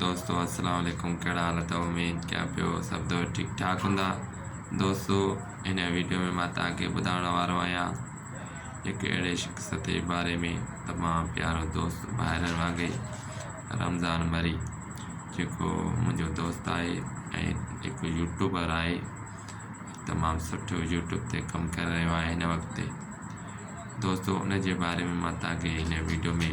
دوستو السلام عليڪم ڪهڙا حال اٿو اميد ڪيان پيو سڀ دوست ٺيڪ ٺاڪ هوندا دوستو هن ويڊيو ۾ مان توهان کي ٻڌائڻ وارو آهيان هڪ اهڙي شخص جي باري ۾ تمام پيارو دوست ڀائرن وانگي رمضان مري جيڪو منهنجو دوست آهي ۽ هڪ يوٽيوبر آهي تمام سٺو يوٽيوب تي ڪم ڪري رهيو آهي هن وقت دوستو ان جي باري ۾ مان توهان کي هن ويڊيو ۾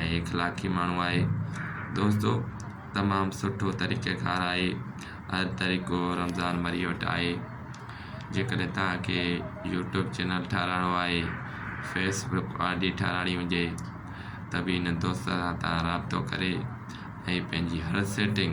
۽ اخلاقي ماڻهو آهي دوستو تمام سٺو طريقي ڪار آهي هر طريقو رمضان مري وٽ آهي جيڪڏهن تهانکي يوٽيوب چينل ٺاهرائڻو آهي فيسبڪ آڊي ٺاهرائڻي هجي ته به هن دوست سان تهان رابطو ڪري ۽ پنهنجي هر سيٽنگ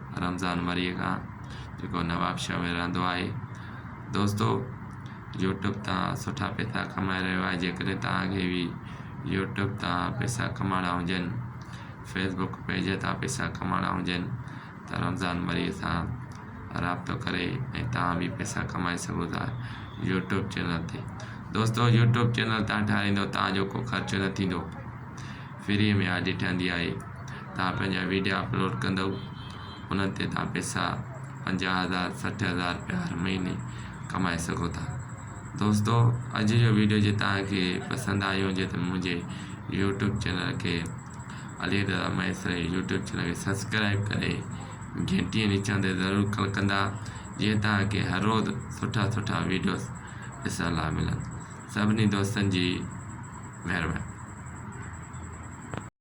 رمضان مريء کان جيڪو نوابشاهه ۾ رهندو آهي دوستو يوٽيوب تان سٺا پيسا ڪمائي رهيو آهي جيڪڏهن تهانکي به يوٽيوب تان پيسا ڪمائڻا هجن فيسبوڪ پيج تان پيسا ڪمائڻا هجن ته رمضان مريء سان رابطو ڪري ۽ تهان به پيسا ڪمائي سگهو ٿا يوٽيوب چينل تي دوستو يوٽيوب چينل تان ٺاهرائيندو تهانجو ڪو خرچ نه ٿيندو فريء ۾ آء ڏٺندي آهي توهان پنهنجا ويڊيا اپلوڊ ڪندؤ انهن تي توهان پئسا پنجاهه هزار سٺ هزار رپيا هر مهيني ڪمائي سگهو ٿا دوستو اڄ جو ويڊيو جي توهان کي پسند آيو هجي ته منهنجي يوٽيوب چينل کي علي رضا مهيسر جي يوٽيوب چينل کي سبسڪرائب ڪري گهنٽي نشان تي ضرور ڪلڪ ڪندا جيئن توهان کي هر روز سٺا سٺا ويڊيوز ڏسڻ لاء ملن سڀني دوستن جي مهرباني.